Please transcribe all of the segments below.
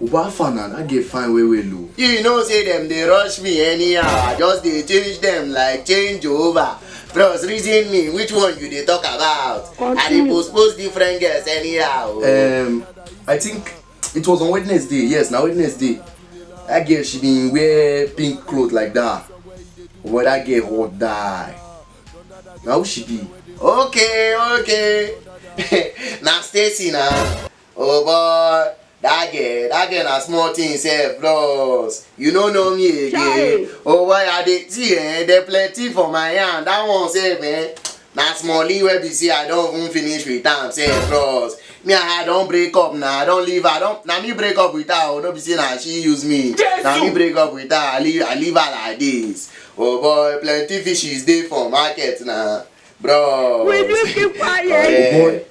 Ubafa na, that girl fine well well o. You know say dem dey rush me anyhow, I just dey change dem like change over. Bros reason me which one you dey talk about? I dey postpose different girls anyhow. Um, I think it was on Wednesday, yes na Wednesday. That girl she bin wear pink cloth like that. Omo that girl hot die. Na who she be? Okay okay, na Stacy na. Oh boy, that girl, that girl na small thing sef bros. You no know me again. Chai. Oh boy, I dey see eh, there plenty for my hand. That one sef eh, na smally wey be say I don even finish with am sef bros. Me and her don break up na, I don leave her. Don, na me break up with her o, no be say na she use me. Na me break up with her, I leave, I leave her like this. Oh boy, plenty fishes dey for market na, bros. Will you keep quiet? Correct.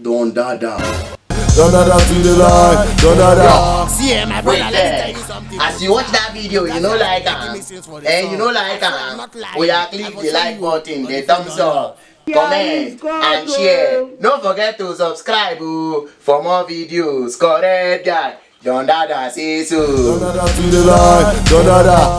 Don Dada. Don Dada to the line. Don Dada. See, eh, my brother, let me tell you something. As you watch that video, you know like am. Eh, you know like am. Oya click the like button, the thumbs up. comment and share no forget to subscribe oh, for more videos correct guy don dada say so. don dada to the line don dada.